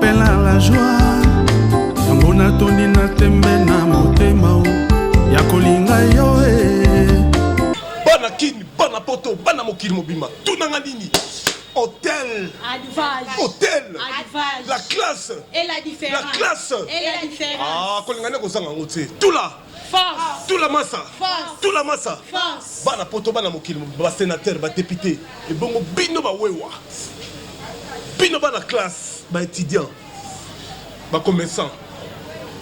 pela la joie yango natondi na tembe na motema o ya kolinga yo e bana kini bana poto bana mokili mobimba tunanga nini hôtel, Advage. hôtel, Advage. la classe, et la différence, la classe, et la différence. Ah, kolingane kozanga ngo te. Tout là. Force. Tula masa. Force. Tula masa. Force. Bana poto bana mokili ba sénateur ba député ebongo bino ba wewa. Bino bana classe ba étudiant ba commerçant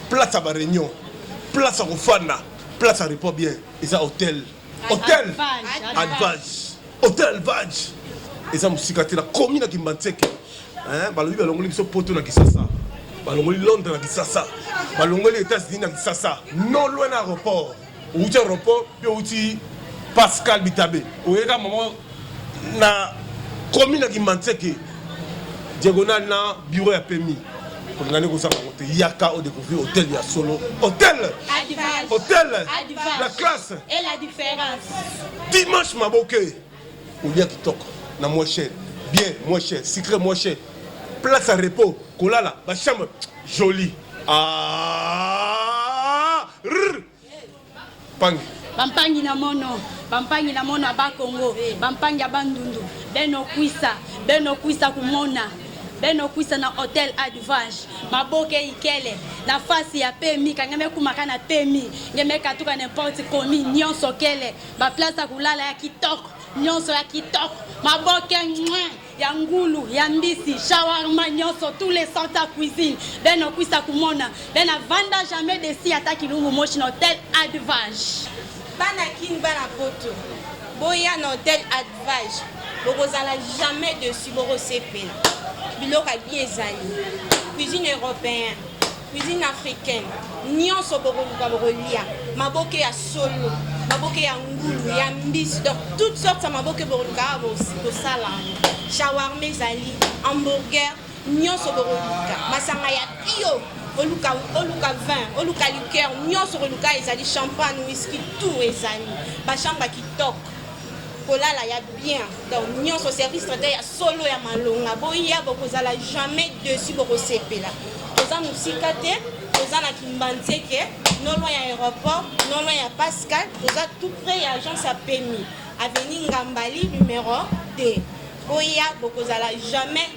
place ya ba réunion place ya kofanda place ya report bien eza hôtel hôtel advage hôtel advage eza mosika te nakomi na kimbanseke hein balobi balongoli biso poto na kisasa balongoli londres na kisasa balongoli états-unis na kisasa non loin na aéroport outi aéroport mpe outi pascal bitabe oyeka mama na komi na kimanseke diagonal na bureau ya pemi olinga nde kozanga yango te yaka odécouvrir hôtel ya solo hôtel hôtel la classe dimanche maboke Kolia kitoko na moins cher, bien moins cher, sucre moins cher, place à repos, kolala, ba chambre jolie. Ah! Rrr! Pangi. Bampangi na mono, bampangi na mono aba Congo, bampangi aba Ndundu, beno kwisa, beno kwisa kumona. beno kwisa na hotel advange maboke ikele na fasi ya pemi kangeme kumaka na pemi ngeme katuka n'importe komi nyonso kele Ba place ya kulala ya kitoko, nionso ya kitoko, maboke mwen ya ngulu ya mbisi shawarma nyonso tous les centres ya cuisine ben okwisa kumona ben avanda jamais desi ata kilungu moshi na hotel advage bana kin bana poto boya na hotel advage bokozala jamais dessus bokosepela biloko ya bien ezali cuisine européen Cuisine africaine nionso bokoluka bokolia maboke ya solo maboke ya ngulu ya mbisi donc toutes sortes ya maboke bokoluka awa bosala yango shawarma ezali hamburger nyonso bokoluka masanga ya pio oluka oluka vin oluka liqueur nyonso koluka ezali champagne whisky tout ezali bashamba kitoko kolala ya bien donc nyonso service traiteur ya solo ya malonga boya bokozala jamais dessus bokosepela toza mosika te toza na kimbanzeke no loin ya aéroport no loin ya pascal toza tout près ya agence ya pemi avenue ngambali numero 2 boya bokozala jamais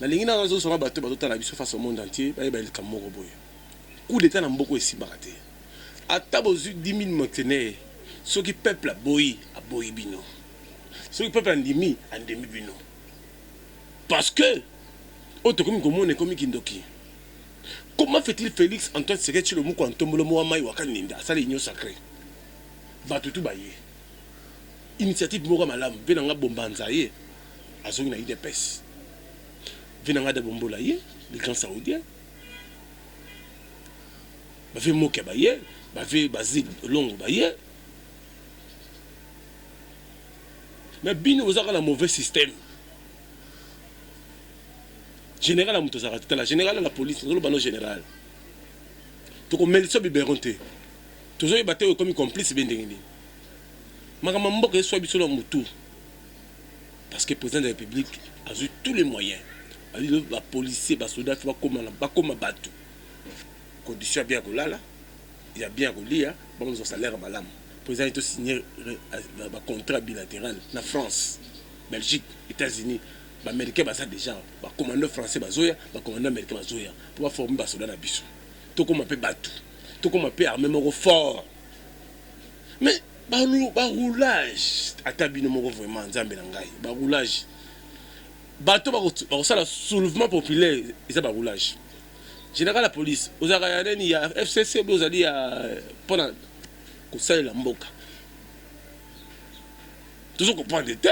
Nalingi nanu nazo sunga bato bazo tala biso face au monde entier bayeba likambo moko boye coup d'etat na mboka oyo esimbaka te ata bozui 10.000 mercenaires soki peuple aboyi aboyi bino soki peuple andimi andimi bino parce que oyo tokomi komona ekomi kindoki comment fait-il Felix Antoine Tshisekedi Tshilombo Mukua Ntombolo Mowa Mai Waka Ninda asala union sacree bato tout baye initiative moko malamu mpe na nga bombanza ye azongi na udps vie na nga de bombola ye le grand saoudien bave mokia baye bave bazi longo baye me bino bozaka na mauvais système général ya moto azalaka tala général ya la police tozoloba no général tokomelisa biberon te tozoyeba te oyo ekomi complice be ndenge nini makambo ya mboka eswa biso na motu parce que president de la republique azui tout les moyens azo ba policiers ba soldats ba koma na ba koma batu condition ya bien kolala ya bien kolia bango zo salaire malamu president to signer ba contrat bilateral na France Belgique Etats-Unis ba américains baza déjà ba commandant français bazoya ba commandant américain bazoya pour ba former ba soldats na biso tokoma pe batu tokoma pe armée moko fort Mais ba ba roulage ata bino moko vraiment nzambe na ngai ba roulage bato bakosala soulevement populaire eza ba roulage général ya police ozalaka ya nani ya FCC obi ozali ya mpona kosalela mboka tozo comprendre te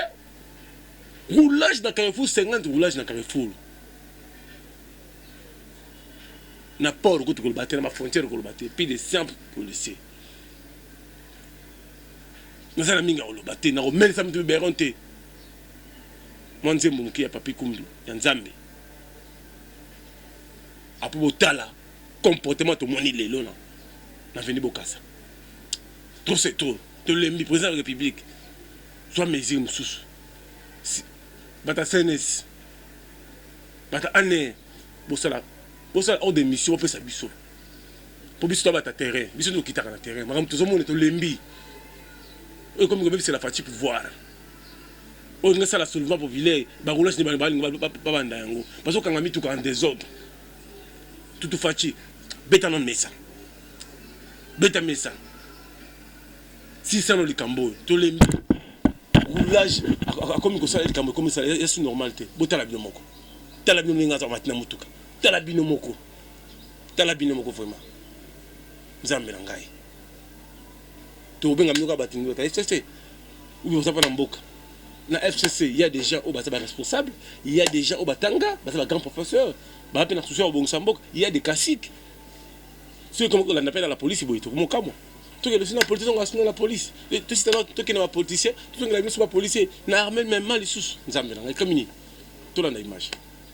roulage na carrefour 50 roulage na carrefour na port kutu koloba te na bafrontière koloba te plus de 100 policier naza na mingi ya koloba te, nakomelisa mutu biberon te. Mwa nzembo moke ya Papi Kumbi ya Nzambe apo botala comportement tomoni lelo na na veni bokasa trop c'est trop tolembi président ya république zwa mesure mosusu bata cns bata ane bosala bosala ordre de mission bopesa biso po biso to bata terrain biso to kitaka na terrain makambo tozo mona to lembi oyo komi ko bebisa la Fatshi pouvoir oyo nga sala soulevement populaire ba roulage ni ba ba ba ba banda yango bazo kanga mituka en désordre tutu Fatshi beta na mesa beta mesa si sala likambo to lembi roulage akomi ko sala likambo komi sala ya su normal te botala bino moko tala bino ndenge aza matina motuka tala bino moko tala bino moko vraiment nzambe na ngai tokobenga bino kaka bato ndoka fcc oyo boza mpo na mboka na fcc il y a des gens oyo baza baresponsable il y a des gens oyo batanga baza bagrand professeur baa mpe na susi ya kobongisa mboka il y a des classiques soki komi kolanda mpe na la polisi boye tokomokamwa tokende biso na polisi tozonga biso na polisi tositana tokende bapolitisien tozongela biso bapolisie na arme mema lisusu nzambe na ngai kamini tolanda image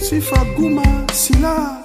Sifa Guma Sila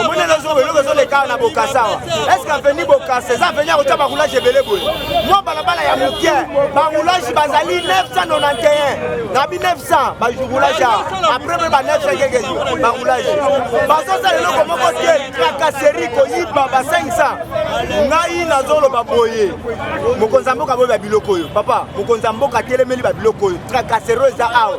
omoni eloko eloko ezoleka na bokasa awa eske aveni bokasa eza aveni ya kotya baroulage ebele boye mwa balabala ya moke baroulage bazali 991 na bi 900 baroulage awa apres mpe ba 900 keke baroulage bazosala eloko moko te trakaseri koyiba ba 500 ngai nazoloba boye mokonzi ya mboka boye babiloko oyo papa mokonzi ya mboka atelemeli babiloko oyo trakaseri oyo eza awa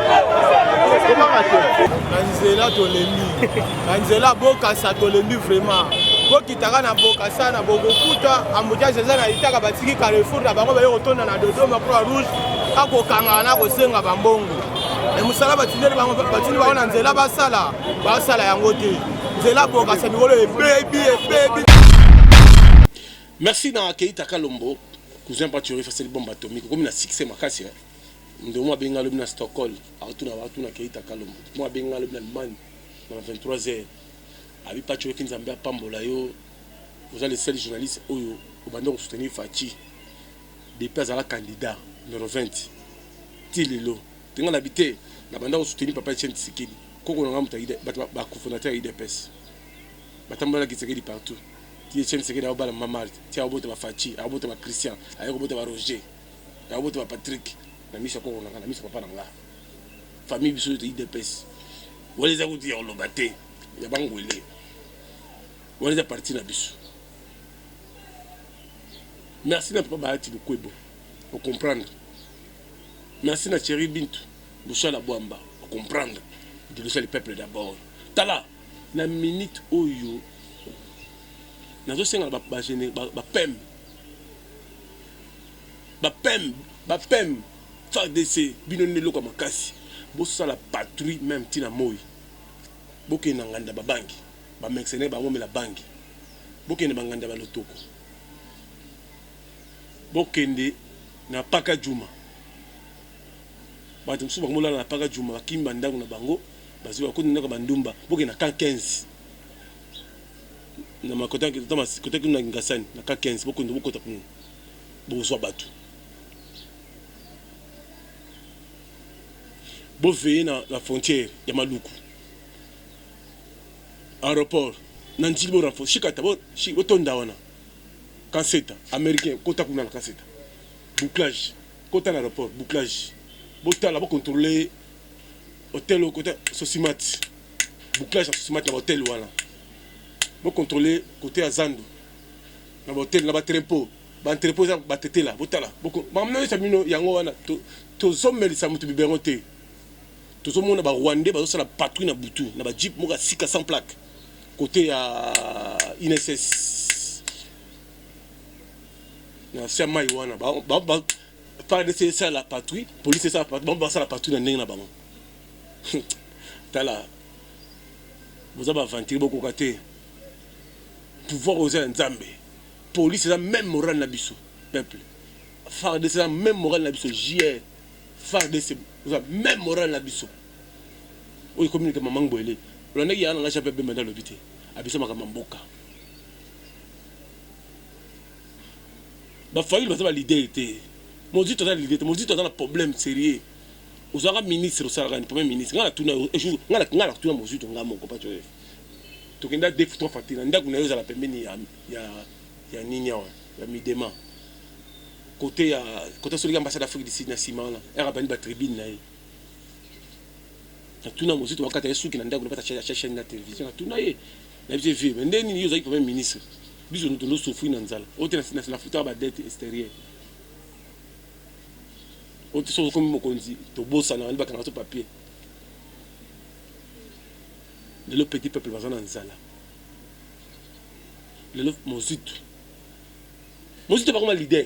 na nzela tolembi na nzela bokasa tolembi vraiment bokitaka na bokasa na bokokuta ambuteage eza na litaka batiki carrefour na bango baye kotonda na dodoma croix rouge akokangana na kosenga bambongo e mosala batindeli bango batindi bango na nzela basala basala yango te nzela bokasa mikolo ebebi ebebi merci na keita kalombo cousin pati orefaseli bombe atomique okomi na succès makasi Ndomo abenga lobi na Stockholm akotuna batu na Keita Kalombo. Ndomo abenga lobi na Allemagne na 23 heures. Abi Patshoki Nzambe apambola yo. Oza le seul journaliste oyo obanda ko soutenir Fatshi depuis azala candidat numero 20 ti lelo. Te nga nabi te na banda ko soutenir papa Etienne Tshisekedi. Koko na nga mutu ya batu ba cofondateur ya udps. Batambola na Kitsekedi partout. Ti Etienne Tshisekedi aobala mama Marthe. Ti aobota ba Fatshi, aobota ba Christian, aye kobota ba Roger. na yo botama Patrick na miso ya koko na nga na miso papa na nga famille biso yote idps wana eza kutu ya koloba te ya bangwele wana eza parti na biso merci na papa bahati bokwebo ocomprendre merci na cheri bintu bosala bwamba ocomprendre liboso ya peuple d'abord tala na minute oyo nazosenga bapeme ba, ba, ba ba pem ba pem fardc bino nde eloko ya makasi bosala patrouille meme ti na moyi bokende na nganda ba bangi ba mexenaire bango mela bangi bokende ba nganda ba lotoko bokende na paka djuma batu mosusu bango molala na paka djuma bakimi ba ndangu na bango bazwi bakoti na ndako ya ba ndumba bokende na camp 15 na makota na kota mas kota kino na Kingasani na ka 15 bokende bokota kuna bokozwa bato boveye na, na frontière ya Maluku aéroport na njili bo renforce shikata bo shi botonda wana kaseta américain kota kuna na kaseta bouclage kota na aéroport bouclage botala bocontrôler hotel kota sosimat bouclage ya sosimat na ba hotel wana bo controle kote ya zandu na ba hotel na ba trempo ba entrepo eza batetela botala makambo nyonso ya bino yango wana tozomelisa moto biberon te tozomona ba rwandais bazosala patrouille na butu na ba jeep moko ya sika sans plaque kote ya inss na sia mai wana ba, ba, ba, FARDC esala patrouille, police esala patrouille, bango basala patrouille na ndenge na bango. Tala, boza ba aventurier, bokoka te. Pouvoir oza ya Nzambe. Police eza même morale na biso, peuple. FARDC eza même morale na biso, JR. FARDC eza même morale na biso. Oyo komi ke maman Boele. Olandaki yana nga Jean-Pierre Bemba ndalobi te. Abisa makambo mboka. ba fayulu baza ba leader te mozito aza leader te mozito aza na problème sérieux ozalaka ministre osalaka ni premier ministre ngai natuna yo jour ngai ngai natuna mozito ngai moko pa joseph tokenda deux trois fois tina ndako na yo ezala pembeni ya ya ya nini awa ya midema côté ya côté solika ambassade d'Afrique du Sud na sima wana era bandi ba tribune na ye natuna mozito bakata ye suki na ndako napesa acha chaine na television natuna ye na biso vie mais nde nini yo ozali premier ministre biso tondo sofri na nzala ote nafuta ba dette extérieure ote soki okomi mokonzi tobosana bandi bakanga so papier lelo petit peuple baza na nzala lelo mozito mozito bakoma leader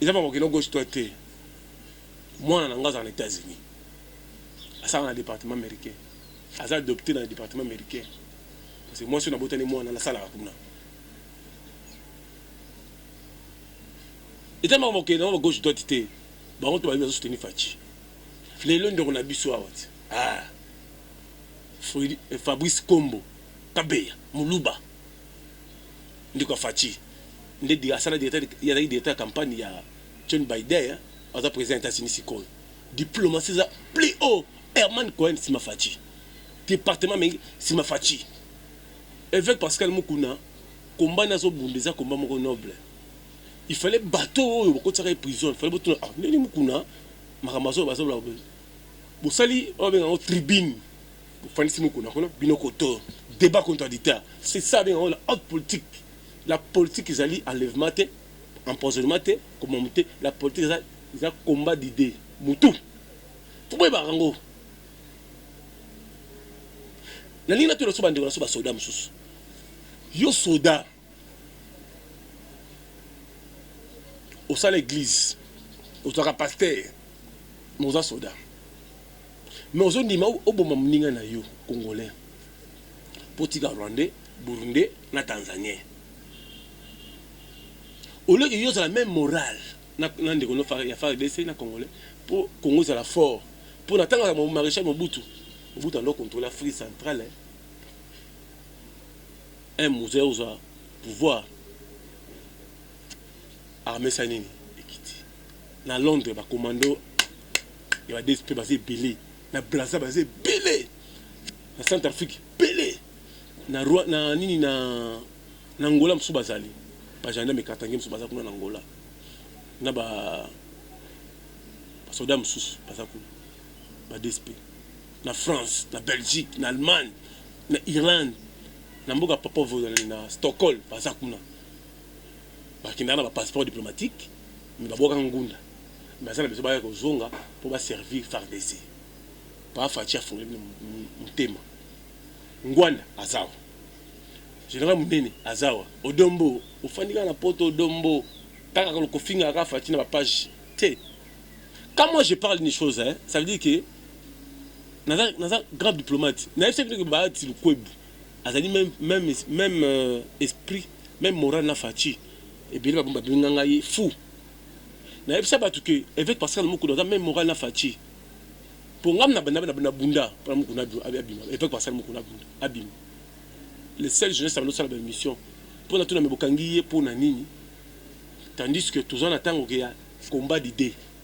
eza makambo okenda gauche droite te mwana na nga azala na etats unis asala na département américain aza adopte na département américain parce que mwasi oyo nabotani mwana nasalaka kuna eza makambo okenda ngo gauche droite te bango to bayebi bazosuteni faci lelo ndeko na biso awa ti ah, fabrice kombo kabeya muluba ndeko ya Fatshi nde di asala directeur ye azali directeur ya campagne ya John Biden aza president ya Etats Unis sikoyo diplomatie eza plus haut Herman Cohen sima Fatshi departement mengi sima Fatshi Evêque Pascal Mukuna combat nazo bunda eza combat moko noble il fallait bateau oyo bakotisaka ye prison il fallait botuna ah ndenge Mukuna makambo azo bazo bosali oyo benga ngo tribune Bofandisi mukuna kuna bino koto debat contradicteur c'est ça abengaka la haute politique la politique ezali enlèvement te empoisonnement te komomo te la politique eza eza combat d'idee mutu toboyebaka yango nalingi natuna so bandeko na so basoda mosusu yo soda osala eglise ozalaka pasteur mais oza soda mais ozondima oboma moninga na yo congolais mpo tika rwandais burundais na tanzanien oleki yo ozala meme moral na, na ndeko no ya fardc na congolais mpo congo ezala fort mpo na ntango ya maréchal mobutu mobutu ando contrôle afrique centrale eh. Un mutu aye kozwa pouvoir armee esali nini? Ekiti na Londres ba commando ya ba DSP baza ebele, na Brazza baza ebele, na Centrafrique ebele, na Rwa na nini na na Angola mosusu bazali ba gendarmes katangais mosusu baza kuna na Angola na ba ba soldats mosusu baza kuna ba DSP. na France, na Belgique, na Allemagne, na Irlande, na mboka ya Papa Vozalani na Stockholm baza kuna. Bakendaka na ba passeports diplomatiques mais babwakaka ngunda. Baza na besoin baya kozonga mpo ba servir fardc. Papa Fatshi afungoli bino motema. Ngwanda aza awa. General Munene aza awa. Odon Mbo ofandi kaka na poto Odon Mbo kaka kofingaka kaka Fatshi na ba pages te. Quand moi je parle une chose hein, ça veut dire que naza naza grand diplomate na yebisa bino que Bahati Lukwebo azali meme meme meme euh, esprit meme moral na Fatshi ebele babomba benga ngai fou na yebisa batu que évêque Pascal Mukuna aza meme moral na Fatshi po ngam na banda na bunda pona Mukuna abima évêque Pascal Mukuna abunda abima le seul jeunesse abanda sala ba émission pona tuna me bokangi ye pona nini tandis que toza na tango ke ya combat d'idée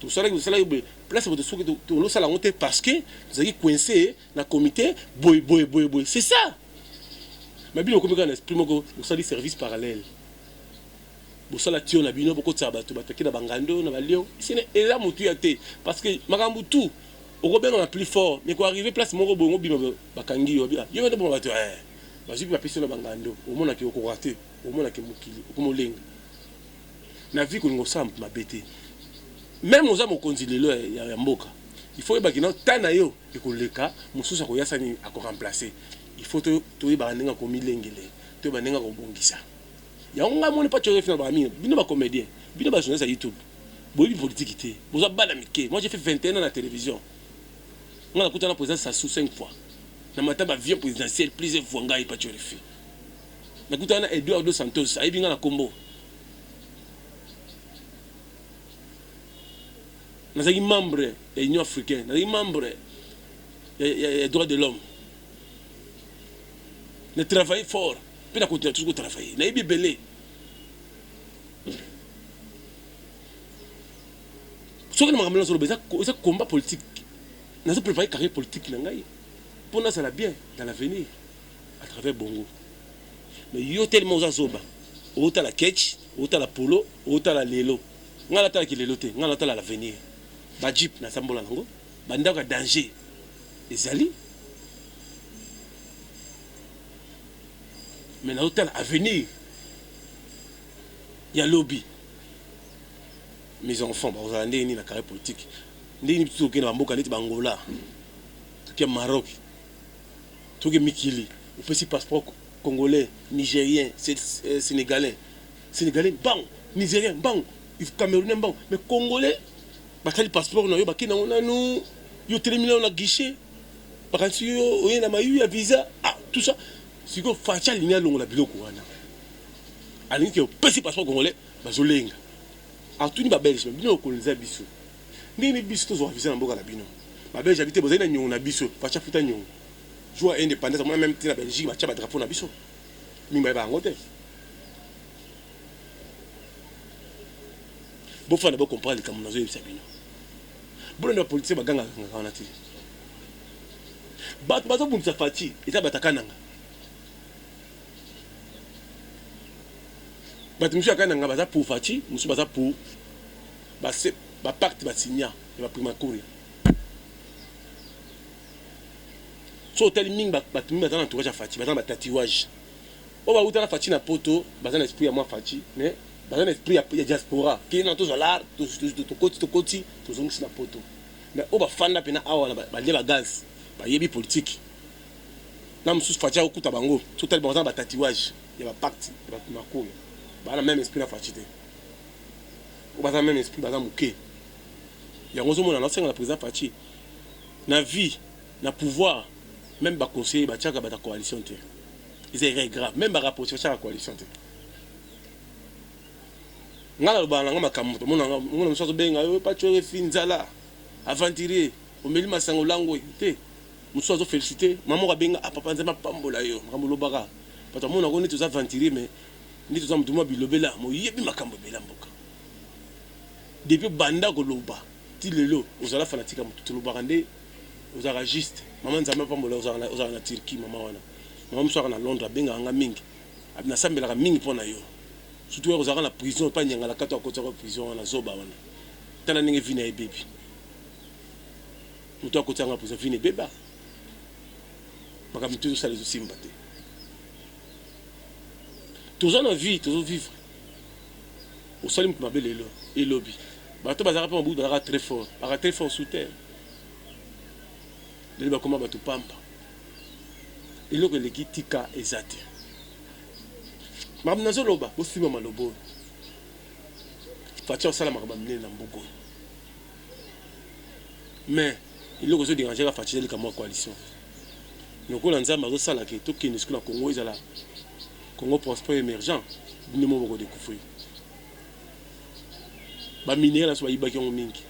Tosalaki tosalaki boye place boye soki tolosala yango te parce que tozalaki coince na comité boye boye boye boye c'est ça mais bino okomi kaka na esprit moko osali service parallèle bosala tio na bino bokotisa bato bataki na bangando na balio sene eza motuya te parce que makambo tout okobenga na plus fort mais koarrive place moko boye ngobima bakangi yo yo mende bongo bato eh, bazwi mpe bapesi na bangando omonaki okoka te omonaki mokili okomolenga na vie kolinga kosala mutu mabe te meme oza mokonzi lelo ya mboka il faut oyeba kino temps na yo ekoleka mosusu akoya sani ako remplacer il faut toyebaka ndenge ya komilengele toyeba ndenge ya kobongisa yango ngai moni pacho refi na bamino bino ba comedien bino ba journaliste ya youtube boyebi politiki te boza bana mike moi j'ai fait 21 ans na television ngai nakutana président Sassou 5 fois na mata ba vieux présidentiel plusieurs fois ngai pacho refi Na kutana na Eduardo Santos, ayebi nga na kombo. Nazalaki membre ya Union africaine, nazalaki membre ya droit de l'homme. Na travailler fort, pe na continuer toujours ko travailler. Nayebi ebele. Soki na makambo nazoloba eza, eza combat politique. Nazo preparer carrière politique na ngai po nazala bien dans l'avenir. à travers bongo mais yo tellement oza zoba otala ketch otala polo otala lelo nga natala ki lelo te nga natala l'avenir ba jeep na sambola nango ba ndako ya danger ezali mais na otala avenir ya lobi mes enfants bakozala ndenge nini na carrière politique ndenge nini bitu tokende bamboka neti bangola tokia maroc Toke mikili opesi passeport congolais nigerien senegalais senegalais mbangu nigerien mbangu il camerounais mbangu mais congolais batali passeport na yo bake nango nanu yo otelemi nano na guichet bakanisi yo oye na mayu ya visa ah tout ça sikoyo faci alingi alongola biloko wana alingi ke opesi passeport congolais bazolenga atuni babelge bino okoloniza biso Ndenge nini biso tozua visa na mboka na bino? Ba belge habite bozali na nyongo na biso fatsha futa nyongo jour ya independance amona meme te na belgique batia ba drapeau na biso mingi bayeba yango te bofanda bo comprendre likambo nazo yebisa bino bolanda ba politicien baganga kanga wana te bato bazobundisa fathi eza bato akananga bato mosusu akananga baza pour fathi mosusu baza pour Ba se ba pacte ba signa ya ba primacuria soki otali mingi batu mingi baza na entourage ya Fatshi baza na ba tatuage oyo bawuta na Fatshi na poto baza na esprit ya mwa Fatshi mais baza na esprit ya, ya diaspora kende na tozwa lar tokoti tokoti tozongisi na poto mais oyo bafanda pena awa na balie ba gaz bayebi politique na mosusu Fatshi akokuta bango soki otali bango baza na ba tatuage ya ba pacte ya ba primacuria baza na meme esprit na Fatshi te. baza meme esprit baza muke yango ozo mona na senga na president Fatshi na vie na pouvoir meme ba conseiller ba tiaka bata coalition te eza erreur grave meme ba rapprocher ba tiaka coalition te nga na lobana nga makambo to mona nga mona musazo benga yo Fatshi oyo fi nzala aventurier omeli masango lango te musazo zo féliciter maman ka benga ah papa nzema pambola yo makambo lobaka bato amona ko neti oza aventurier mais Ndeti oza mutu mua bilobela mais oyebi makambu ebele ya mboka depuis obanda koloba ti lelo ozala fanatique ya mutu te olobaka nde ozalaka juste maman nzambe apambola ozalaka na Turquie maman wana maman musuaka na Londres abengaka nga mingi nasambelaka mingi mpo na yo surtout yaka ozalaka na prison epa nyangala kato akotisaka prison wana zoba wana tala ndenge vina ebebi mutu akotisaka nga prison vina ebeba makambo mtu ezosala ezosimba te toza na vie tozo vivre osali mutu mabe lelo et lobi bato bazalaka mpe mabutu bazalaka très fort baka très fort sous terre lelo bakoma bato pamba eloko eleki tika eza te makambo nazoloba bosimba maloba oyo faci osala makambo ya minene na mboka oyo mais eloko ezoderange kaka faci ezali kamwa coalition lokola nzambe azo sala ke to kende sikoyo na Congo ezala Congo prospère emergent bino moko boko decouvrir ba minerais naso bayibaki yango mingi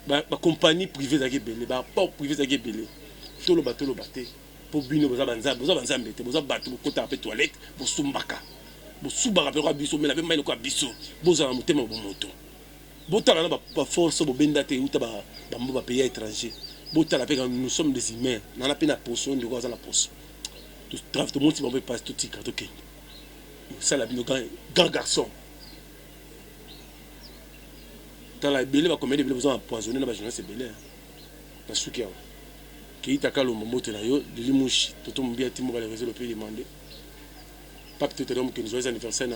ba, ba compagnie privée ezalaki ebele ba port privé ezalaki ebele toloba toloba te mpo bino boza banzambe boza banzambe te boza bato bokotaka mpe toilette bosumbaka bosubaka mpe lokola biso omela mpe mai lokola biso bozala motema bomoto botala na ba force oyo bobenda te ewuta ba mboka ba pays ya etranger botala pe nous sommes des humains nana pe na poso ndeko aza na poso to tomonisi bango pe pasi totika tokende sala bino grand garçon tala ebele ba comédie ebele boza na poisonner na ba journaliste ebele na suki awa Keita Kalombo mbote na yo Lili Mushi Toto Mobia Timo Bale Rezo Lope Demande Pape Tetelom Kenzo Joyeux Anniversaire na